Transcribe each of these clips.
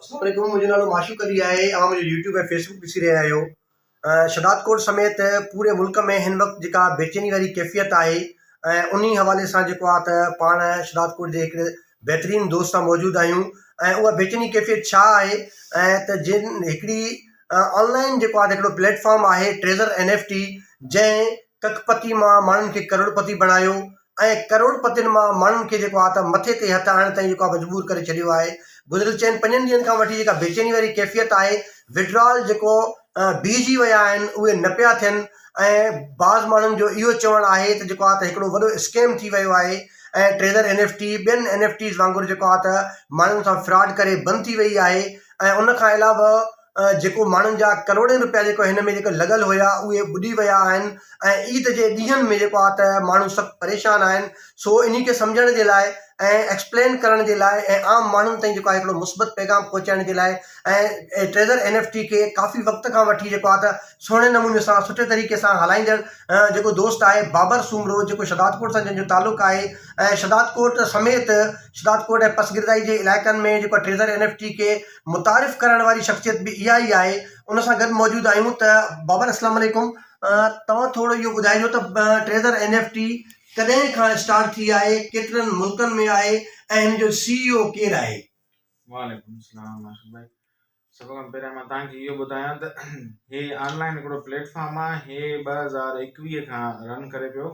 اسلام عليڪم منهنجو نالو معشوق علي آهي اوهان منهنجو يوٽيوب ۽ فيسبوڪ ڏسي رهيا آهيو شهداد ڪوٽ سميت پوري ملڪ ۾ هن وقت جيڪا بيچيني واري ڪيفيت آهي ۽ انهي حوالي سان جيڪو آهي ته پاڻ شهداد ڪوٽ جي هڪڙي بهترين دوست سان موجود آهيون ۽ اها بيچيني ڪيفيت ڇا آهي ۽ ته جن هڪڙي آنلائن جيڪو آهي هڪڙو پليٽ فارم آهي ٽريزر اين ايف ٽي جنهن ڪک پتي مان ماڻهن کي ڪروڙپتي بڻايو ۽ ڪروڙپتين مان ماڻهن کي جيڪو آ ته مٿي تي هٿ آڻڻ تائين جيڪو آ مجبور ڪري ڇڏيو آهي. گذريل چئن پنجن ڏينهن کان وٺي جيڪا بيچيني واري ڪيفيت آهي، Withdrawal، جيڪو بيهجي ويا آهن اهي نه پيا ٿين ۽ بعض ماڻهن جو اهو چوڻ آهي ته جيڪو آ ته هڪڙو وڏو اسڪيم ٿي ويو آهي ۽ ٽريزر اين ايف ٽي ٻين اين ايف ٽيز وانگر جيڪو آ ته ماڻهن سان فراڊ ڪري بند ٿي وئي آهي ۽ ان کان علاوه جيڪو ماڻهن جا ڪروڙين روپيا جيڪو هن ۾ جيڪو لڳل هيا اهي ٻڏي ويا آهن ۽ عيد جي ڏينهن ۾ جيڪو آهي ته ماڻهو سخت پريشان آهن سو انهي کي سمجهڻ جي لاء ۽ ايڪسپلين ڪرڻ جي لاء ۽ عام ماڻهن تائين جيڪو آهي هڪڙو مثبت پيغام پهچائڻ جي لاء ۽ ٽريزر اين ايف ٽي کي ڪافي وقت کان وٺي جيڪو آهي ته سهڻي نموني سان سٺي طريقي سان هلائيندڙ جيڪو دوست آهي بابر سومرو جيڪو شهداد ڪوٽ سان جنهن جو تعلق آهي ۽ شهداد ڪوٽ سميت شهداد ڪوٽ ۽ پسگردائي جي علائقن ۾ جيڪو ٽريزر اين ايف ٽي کي متعارف ڪرائڻ واري شخصيت به اها ئي آهي ان سان گڏ موجود آهيون ته بابر اسلام عليڪم توهان ٿورو اهو ٻڌائجو ته ٽريزر اين ايف ٽي ڪڏهن کان اسٽارٽ ٿي آهي ڪيترن ملڪن ۾ آهي ۽ هن جو سي اي او ڪير آهي. وعليڪم السلام عاشق ڀائي سڀ کان پهريان مان توهان کي اهو ٻڌايان ته هي آنلائن هڪڙو پليٽ فارم آهي هي ٻه هزار ايڪويهه کان رن ڪري پيو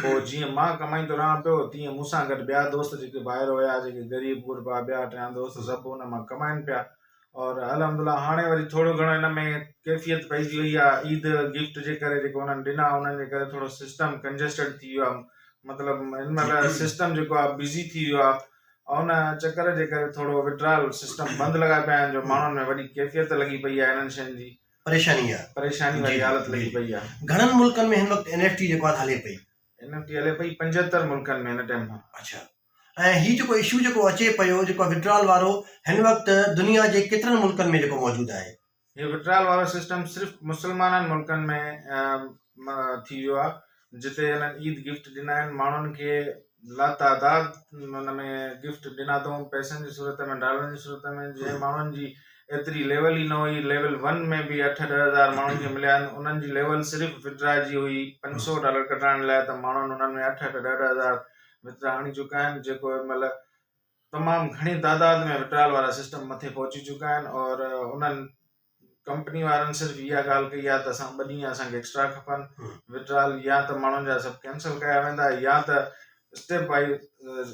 پوء جيئن مان ڪمائيندو رهان پيو، تيئن مون سان گڏ ٻيا دوست جيڪي ڀائر هيا، جيڪي غريب غربا، ٻيا ٽيان دوست سڀ ان مان ڪمائين پيا اور الحمد الله هاڻي وري ٿورو گهڻو ان ۾ ڪيفيت پئجي وئي آ، عيد گفٽ جي ڪري جيڪو انهن ڏنا انهن جي ڪري ٿورو سسٽم ڪنجسٽيڊ ٿي ويو آ، مطلب هن مهل سسٽم جيڪو آ بزي ٿي ويو آ، ان چڪر جي ڪري ٿورو وڊرال سسٽم بند لڳا پيا آهن جو ماڻهن ۾ وڏي ڪيفيت لڳي پئي آ انهن شين جي. پريشاني آ. پريشاني واري حالت لڳي پئي آ. گهڻن ملڪن ۾ هن وقت اين ايف ٽي جيڪو آ هلي پئي. اين ايف ٽي هلي پئي پنجهتر ملڪن ۾ هن ٽيم کان. اڇا ۽ هي جيڪو اشو جيڪو اچي پيو جيڪو آ وڊرال وارو هن وقت دنيا جي ڪيترن ملڪن ۾ جيڪو موجود آهي. هي وڊرال وارو سسٽم صرف مسلمانن ملڪن ۾ ٿي ويو آ جتي هنن عيد گفٽ ڏنا آهن ماڻهن کي لاتعداد ان ۾ گفٽ ڏنا اٿئون پئسن جي صورت ۾ ڊالرن جي صورت ۾ جنهن ماڻهن جي ايتري ليول ئي نه هئي ليول ون ۾ به اٺ ڏهه هزار ماڻهن کي مليا آهن انهن جي ليول صرف وڊرا جي هئي پنج سو ڊالر ڪڍرائڻ لاء ته ماڻهن انهن ۾ اٺ اٺ ڏهه ڏهه هزار وڊرا آڻي چڪا آهن جيڪو هن مهل تمام گهڻي تعداد ۾ وڊرال وارا سسٽم مٿي پهچي چڪا آهن اور انهن ڪمپني وارن صرف اها ڳالهه ڪئي آهي ته اسان ٻه ڏينهن اسان کي ايڪسٽرا کپن وڊرال يا ته ماڻهن جا سڀ ڪينسل ڪيا ويندا يا ته اسٽيپ وائز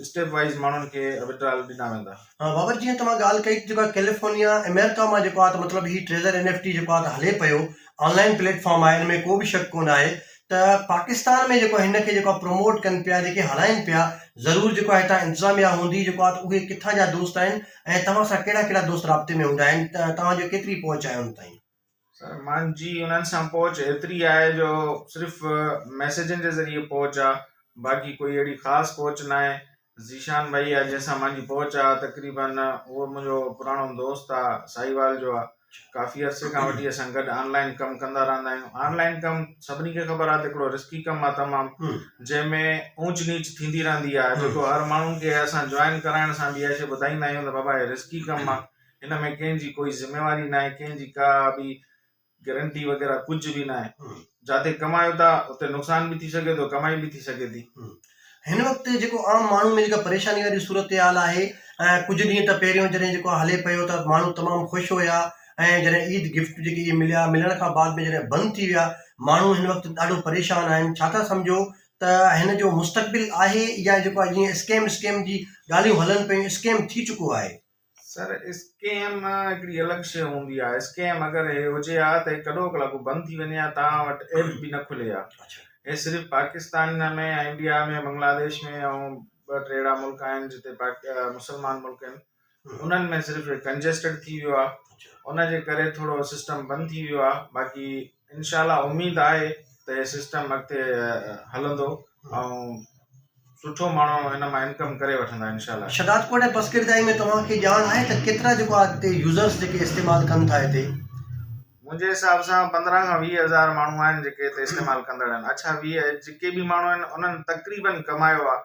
اسٽيپ وائز ماڻهن کي وڊرال ڏنا ويندا ها بابر جيئن توهان ڳالهه ڪئي ته جيڪو ڪيليفورنيا امريڪا مان جيڪو آهي مطلب هي ٽريزر اين ايف ٽي جيڪو آهي هلي پيو آنلائن پليٽ فارم آهي ان ۾ ڪو به شڪ ڪونه آهي ته پاڪستان ۾ جيڪو هن کي جيڪو پروموٽ ڪن پيا جيڪي هلائين پيا ضرور جيڪو هتان انتظاميا هوندي جيڪو اهي ڪٿان جا دوست آهن ۽ توهان سان ڪهڙا ڪهڙا دوست رابطي ۾ هوندا آهن ته توهان جو ڪيتري پهچ آهي ان تائين؟ سر مانجي انهن سان پهچ ايتري آهي جو صرف ميسيجن جي ذريعي پهچ آ باقي ڪوئي اهڙي خاص پهچ ناهي ذيشان ڀائي آ جنهن سان مانجي پهچ آ تقريبن اهو منهنجو پراڻو دوست آ ساهيوال جو آ ڪافي عرصي کان وٺي اسان گڏ آن لائن ڪم ڪندا رهندا آهيون آن لائن ڪم سڀني کي خبر آهي ته هڪڙو رسڪي ڪم آهي تمام جنهن ۾ اونچ نيچ ٿيندي رهندي آهي جيڪو هر ماڻهو کي اسان جوائن ڪرائڻ سان به اها شي ٻڌائيندا آهيون ته بابا هي رسڪي ڪم آهي هن ۾ ڪنهن جي ڪوئي ذميواري ناهي ڪنهن جي ڪا به گرنٽي وغيره ڪجهه به ناهي جاتي ڪمايو ٿا اتي نقصان به ٿي سگهي ٿو ڪمائي به ٿي سگهي ٿي. هن وقت جيڪو عام ماڻهو ۾ جيڪا پريشاني واري صورتحال آهي ۽ ڪجهه ڏينهن ته پهريون جڏهن جيڪو هلي پيو ته ماڻهو تمام خوش هيا ۽ جڏهن عيد گفٽ جيڪي اهي مليا ملڻ کان بعد ۾ جڏهن بند ٿي ويا ماڻهو هن وقت ڏاڍو پريشان آهن ڇا ٿا سمجهو ته هن جو مستقبل آهي يا جيڪو آهي جيئن اسڪيم اسڪيم جي ڳالهيون هلن پيون اسڪيم ٿي چڪو آهي. سر اسڪيم هڪڙي الڳ شيء هوندي آ اسڪيم اگر هي هجي ها ته هي ڪڏو ڪلا ڪو بند ٿي وڃي ها توهان وٽ ايپ به نه کلي ها هي صرف پاڪستان ۾ انڊيا ۾ بنگلاديش ۾ ۽ ٻه ٽي اهڙا ملڪ آهن جتي مسلمان ملڪ آهن انهن ۾ صرف هي ڪنجسٽيڊ ٿي ويو آ ان جي ڪري ٿورو سسٽم بند ٿي ويو آ باقي انشاء الله اميد آهي ته هي سسٽم اڳتي هلندو ۽ سٺو ماڻهو هن مان انڪم ڪري وٺندا انشاء الله. شھداد ڪوٽ ۽ پسگردائي ۾ توهان کي ڄاڻ آهي ته ڪيترا جيڪو آ هتي يوزرس جيڪي استعمال ڪن ٿا هتي؟ منهنجي حساب سان پندرهن کان ويهه هزار ماڻهو آهن جيڪي هتي استعمال ڪندڙ آهن اڇا ويهه جيڪي به ماڻهو آهن انهن تقريباً ڪمايو آ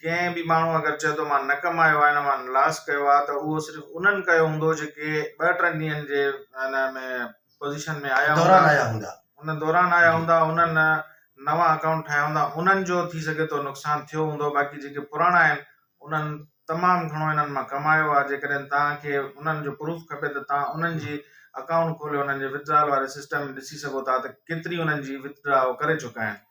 ڪنهن به ماڻهو اگر چئي ٿو مان نه ڪمايو آ هن مان لاس ڪيو آ ته اهو صرف انهن ڪيو هوندو جيڪي ٻه ٽن ڏينهن جي ان ۾ دوران آيا هوندا. ان دوران آيا هوندا انهن نوان اڪائونٽ ٺاهيا هوندا انهن جو ٿي سگهي ٿو نقصان ٿيو هوندو باقي جيڪي پراڻا آهن انهن تمام گهڻو انهن مان ڪمايو آهي جيڪڏهن توهان کي انهن جو پروف کپي ته توهان انهن جي اڪائونٽ کولي انهن جي وٿ ڊرائل واري سسٽم ڏسي سگهو ٿا ته ڪيتري انهن جي وٿ ڊراء هو ڪري چڪا آهن.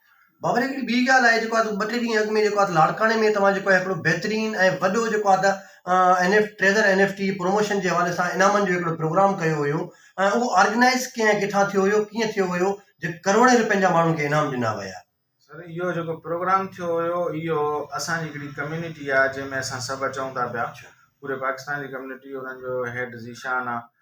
بابر هڪڙي ٻي ڳالهه آهي جيڪو ٻه ٽي ڏينهن اڳ ۾ جيڪو آهي لاڙڪاڻي ۾ توهان جيڪو آهي هڪڙو بهترين ۽ وڏو جيڪو آهي ته N F treasure N F T جي پروموشن جي حوالي سان انعامن جو هڪڙو پروگرام ڪيو هيو ۽ اهو آرگنائز ڪنهن ڪٿان ٿيو هيو ڪيئن ٿيو هيو جو ڪروڙين روپين جا ماڻهن کي انعام ڏنا ويا سر اهو جيڪو پروگرام ٿيو هيو اهو اسان جي هڪڙي ڪميونٽي آهي جنهن ۾ اسان سڀ اچون ٿا پيا پوري پاڪستان جي ڪميونٽي انهن جو هيڊ ذيشان آهي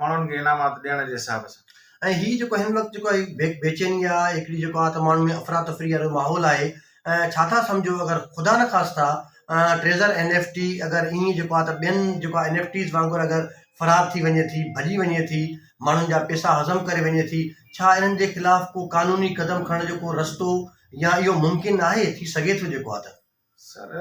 ماڻهن کي انعامات ڏيڻ جي حساب سان. ۽ هي جيڪو هن وقت جيڪو هي بيچيني آ هڪڙي جيڪو آ ته ماڻهن ۾ افرا تفري وارو ماحول آهي ۽ ڇا ٿا سمجهو اگر خدا نه خاصتا ٽريزر اين ايف ٽي اگر ايئن جيڪو آ ته ٻين جيڪو اين ايف ٽيز وانگر اگر فرار ٿي وڃي ٿي ڀڄي وڃي ٿي ماڻهن جا پيسا هضم ڪري وڃي ٿي ڇا انهن جي خلاف ڪو قانوني قدم کڻڻ جو ڪو رستو يا اهو ممڪن آهي ٿي سگهي ٿو جيڪو آ ته سر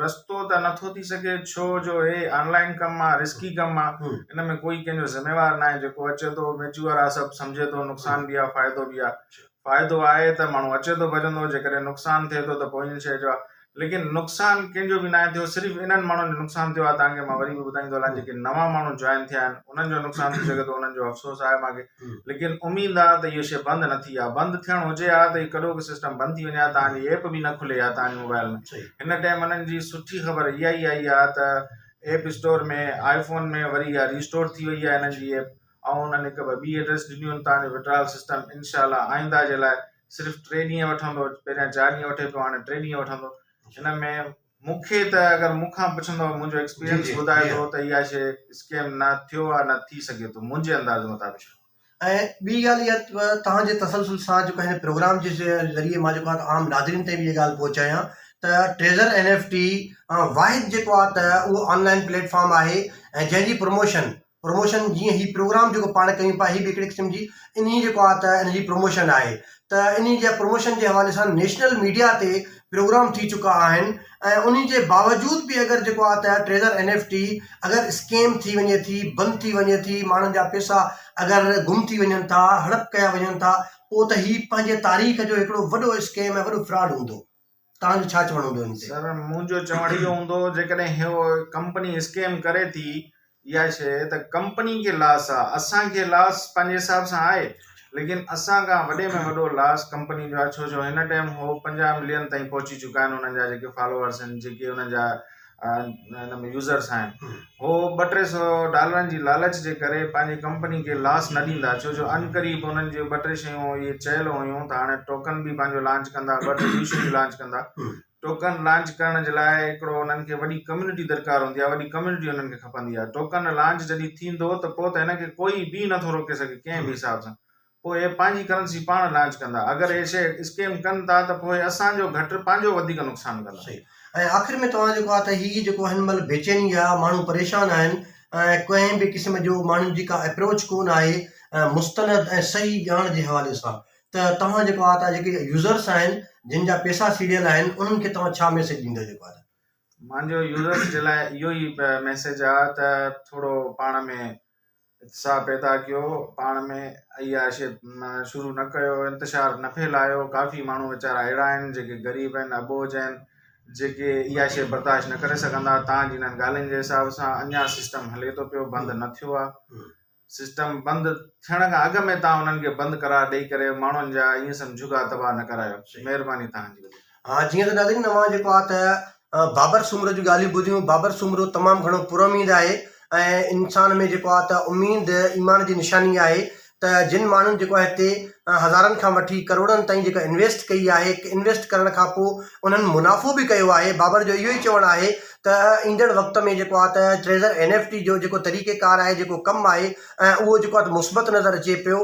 رستو ته نٿو ٿي سگهي ڇو جو هي آن لائن ڪم آهي رسڪي ڪم آهي ان ۾ ڪوئي ڪنهن جو ذميوار ناهي جيڪو اچي ٿو ميچوئر آهي سڀ سمجهي ٿو نقصان به آهي فائدو به آهي فائدو آهي ته ماڻهو اچي ٿو ڀڄندو جيڪڏهن نقصان ٿئي ٿو ته پوء ان شي جو ليڪن نقصان ڪنهن جو به ناهي ٿيو صرف انهن ماڻهن جو نقصان ٿيو آهي تانڪه مان وري به ٻڌائيندو هلان جيڪي نوان ماڻهو جوائن ٿيا آهن انهن جو نقصان ٿي سگهي ٿو انهن جو افسوس آهي مانکي ليڪن اميد آ ته اهو شي بند نه ٿي آ بند ٿيڻ هجي ها ته هي ڪڏو به سسٽم بند ٿي وڃي ها توهان جي ايپ به نه کلي ها توهان جي موبائل ۾ هن ٽيم انهن جي سٺي خبر اها ئي آئي آ ته ايپ اسٽور ۾ آئي فون ۾ وري اها ريسٽور ٿي وئي آ هنن جي ايپ ۽ انهن هڪ ٻه ٻي ايڊريس ڏنيون آهن توهان جو وڊرال سسٽم انشاء الله آئنده جي لاء صرف ٽي ڏينهن وٺندو پهريان چار ڏينهن وٺي پيو هاڻي ٽي ڏينهن وٺندو هن ۾ مون کي ته اگر مون کان پڇندؤ منهنجو ايڪسپيرينس ٻڌائي ٿو ته اها شيء اسڪيم نه ٿيو آهي نه ٿي سگهي ٿو منهنجي انداز مطابق. ۽ ٻي ڳالهه اها ته توهان جي تسلسل سان جيڪو هن پروگرام جي ذريعي مان جيڪو آهي ته عام ناظرين تائين به اها ڳالهه پهچايان ته ٽريزر اين ايف ٽي واحد جيڪو آهي ته اهو آن لائن پليٽ فارم آهي ۽ جنهن جي پروموشن پروموشن جيئن هي پروگرام جيڪو پاڻ ڪيون پيا هي به هڪڙي قسم جي انهي جيڪو آ ته ان جي پروموشن آهي ته انهي جي پروموشن جي حوالي سان نيشنل ميڊيا تي پروگرام ٿي چڪا آهن ۽ انهي جي باوجود به اگر جيڪو آ ته ٽريزر اين ايف ٽي اگر اسڪيم ٿي وڃي ٿي بند ٿي وڃي ٿي ماڻهن جا پيسا اگر گم ٿي وڃن ٿا هڙپ ڪيا وڃن ٿا پوء ته هي پنهنجي تاريخ جو هڪڙو وڏو اسڪيم ۽ وڏو فراڊ هوندو. توهان جو ڇا چوڻ هوندو ان تي؟ سر منهنجو چوڻ اهو هوندو جيڪڏهن هيء ڪمپني اسڪيم ڪري ٿي اها شيء ته ڪمپني کي لاس آهي اسان کي لاس پنهنجي حساب سان آهي ليڪن اسان کان وڏي ۾ وڏو لاس ڪمپني جو آهي ڇو جو هن ٽائيم هو پنجاهه ملين تائين پهچي چڪا آهن انهن جا جيڪي فالوورس آهن جيڪي انهن جا ان ۾ يوزرس آهن هو ٻه ٽي سو ڊالرن جي لالچ جي ڪري پنهنجي ڪمپني کي لاس نه ڏيندا ڇو جو ان قريب انهن جي ٻ ٽي شيون اهي چيل هيون ته هاڻي ٽوڪن به پنهنجو لانچ ڪندا ٻه ٽي ٻيون شيون لانچ ڪندا ٽوڪن لانچ ڪرڻ جي لاء هڪڙو انهن کي وڏي ڪميونٽي درڪار هوندي آهي وڏي ڪميونٽي انهن کي کپندي آهي ٽوڪن لانچ جڏهن ٿيندو ته پوء ته هن کي ڪوئي به نٿو روڪي سگهي ڪنهن به حساب سان پوء پنهنجي ڪرنسي پاڻ لانچ ڪندا اگر اهي شيئر اسڪيم ڪن ٿا ته پوء اسان جو گهٽ پنهنجو وڌيڪ نقصان ڪندا. صحيح ۽ آخر ۾ توهان جيڪو آ ته هي جيڪو هن مهل بيچيني جا ماڻهو پريشان آهن ۽ ڪنهن به قسم جو ماڻهن جي ڪا اپروچ ڪون آهي مستند ۽ صحيح ڄاڻ جي حوالي سان ته توهان جيڪو آ ته جيڪي يوزرس آهن جن جا پيسا سيڙيل آهن انهن کي توهان ڇا ميسيج ڏيندو جيڪو آ ته. مانجو يوزرس جي لاء اهو ئي ميسيج آ ته ٿورو پاڻ ۾ اتساهه پيدا ڪيو، پاڻ ۾ عياشي شروع نه ڪيو، انتشار نه ڦهلايو، ڪافي ماڻهو ويچارا اهڙا آهن جيڪي غريب آهن، اٻوجهه آهن، جيڪي عياشي برداشت نه ڪري سگهندا، تان جي انهن ڳالهين جي حساب سان اڃا سسٽم هلي ٿو پيو، بند نه ٿيو آهي، سسٽم بند ٿيڻ کان اڳ ۾ تان انهن کي بند قرار ڏئي ڪري ماڻهن جا ايئن سمجهه جهڳا تباهه نه ڪرايو، مهرباني تان جي. ها جيئن ته ناظرين اوهان جيڪو آ ته بابر سومرو جون ڳالهيون ٻڌيون بابر سومرو تمام گهڻو پر اميد آهي ۽ انسان ۾ جيڪو آ ته اميد ايمان جي نشاني آهي ته جن ماڻهن جيڪو آ هتي هزارن کان وٺي ڪروڙن تائين جيڪا انويسٽ ڪئي آهي انويسٽ ڪرڻ کان پوء انهن منافعو به ڪيو آهي بابر جو اهو ئي چوڻ آهي ته ايندڙ وقت ۾ جيڪو آ ته ٽريزر اين ايف ٽي جو جيڪو طريقه ڪار آهي جيڪو ڪم آهي اهو جيڪو آ ته مثبت نظر اچي پيو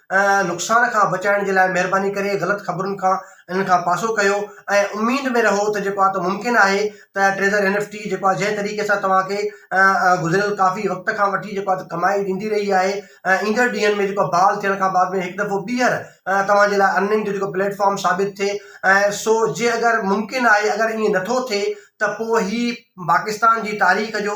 نقصان کان بچائڻ جي لاء مهرباني ڪري غلط خبرن کان انهن کان پاسو ڪيو ۽ اميد ۾ رهو ته جيڪو آهي ممڪن آهي ته ٽريزر اين ايف ٽي جيڪو آهي جنهن طريقي سان توهان کي گذريل ڪافي وقت کان وٺي جيڪو آهي ڪمائي ڏيندي رهي آهي ايندڙ ڏينهن ۾ جيڪو بحال ٿيڻ کان بعد ۾ هڪ دفعو ٻيهر توهان جي لاء ارننگ جو جيڪو پليٽ فارم ثابت ٿئي ۽ سو جي اگر ممڪن آهي اگر ائين نٿو ٿئي ته پوء هي پاڪستان جي تاريخ جو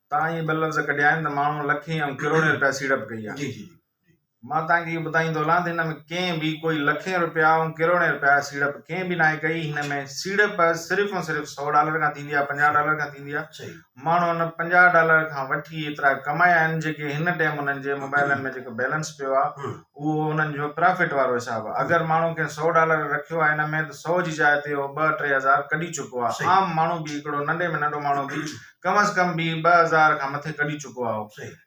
توهان اهي بل لفظ ڪڍيا آهن ته ماڻهو لکين ۽ ڪروڙين رپيا سيڙپ ڪئي آهي. جي جي جي. مان توهان کي اهو ٻڌائين ٿو هلان ته هن ۾ ڪنهن به ڪوئي لکين رپيا ۽ ڪروڙين رپيا سيڙپ ڪنهن به ناهي ڪئي. هن ۾ سيڙپ صرف ۽ صرف سؤ ڊالر کان ٿيندي آهي پنجاهه ڊالر کان ٿيندي آهي. صحيح. ماڻهو ان پنجاهه ڊالر کان وٺي ايترا ڪمايا آهن جيڪي هن ٽيم انهن جي موبائلن ۾ جيڪو بيلنس پيو آهي ھمم. اهو انهن جو پرافٽ وارو حساب آهي. اگر ماڻهو ڪنهن سؤ ڊالر رکيو آهي هن ۾ ته سؤ جي جاء تي اهو ٻه ٽي هزار ڪڍي چڪو آهي. صحيح. عام ماڻهو به هڪڙو ننڍي ۾ ننڍو ماڻهو به ڪم از ڪم به ٻه هزار کان مٿي ڪڍي چڪو آهو.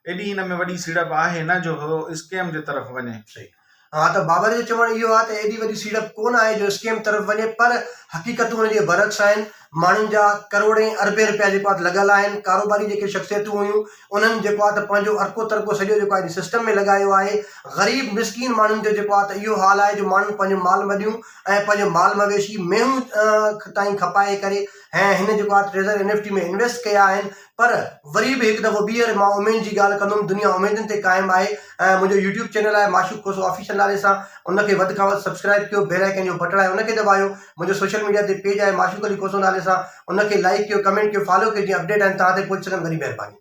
ايڏي ان ۾ وڏي سيڙپ آهي نه جو هو اسڪيم جي طرف وڃي. ها ته بابر جو چوڻ اهو آهي ته ايڏي وڏي سيڙپ ڪونه آهي جو اسڪيم طرف وڃي پر حقيقتون ان جي برعڪس آهن، ماڻهن جا ڪروڙين اربين رپيا جيڪو آهي ته لڳل آهن، ڪاروباري جيڪي شخصيتون هيون انهن جيڪو آهي ته پنهنجو ارڪو ترڪو سڄو جيڪو آهي ان سسٽم ۾ لڳايو آهي، غريب مسڪين ماڻهن جو جيڪو آهي ته اهو حال آهي جو ماڻهن پنهنجو مال مڏيون ۽ پنهنجو مال مويشي مينهون تائين کپائي ڪري ۽ هن جيڪو آهي treasure N F T ۾ invest ڪيا آهن پر وري به هڪ دفعو ٻيهر مان اميد جي ڳالهه ڪندم دنيا اميدن تي قائم آهي ۽ منهنجو يوٽيوب چينل آهي معشوق کوسو آفيشل نالي سان ان کي وڌ کان وڌ سبسڪرائب ڪيو بيل آئيڪن جو بٽڻ آهي ان کي دٻايو منهنجو سوشل ميڊيا تي پيج آهي معشوق علي کوسو نالي سان ان کي لائڪ ڪيو ڪمينٽ ڪيو فالو ڪيو جيئن اپڊيٽ آهن توهان تائين پهچي سگهن وڏي مهرباني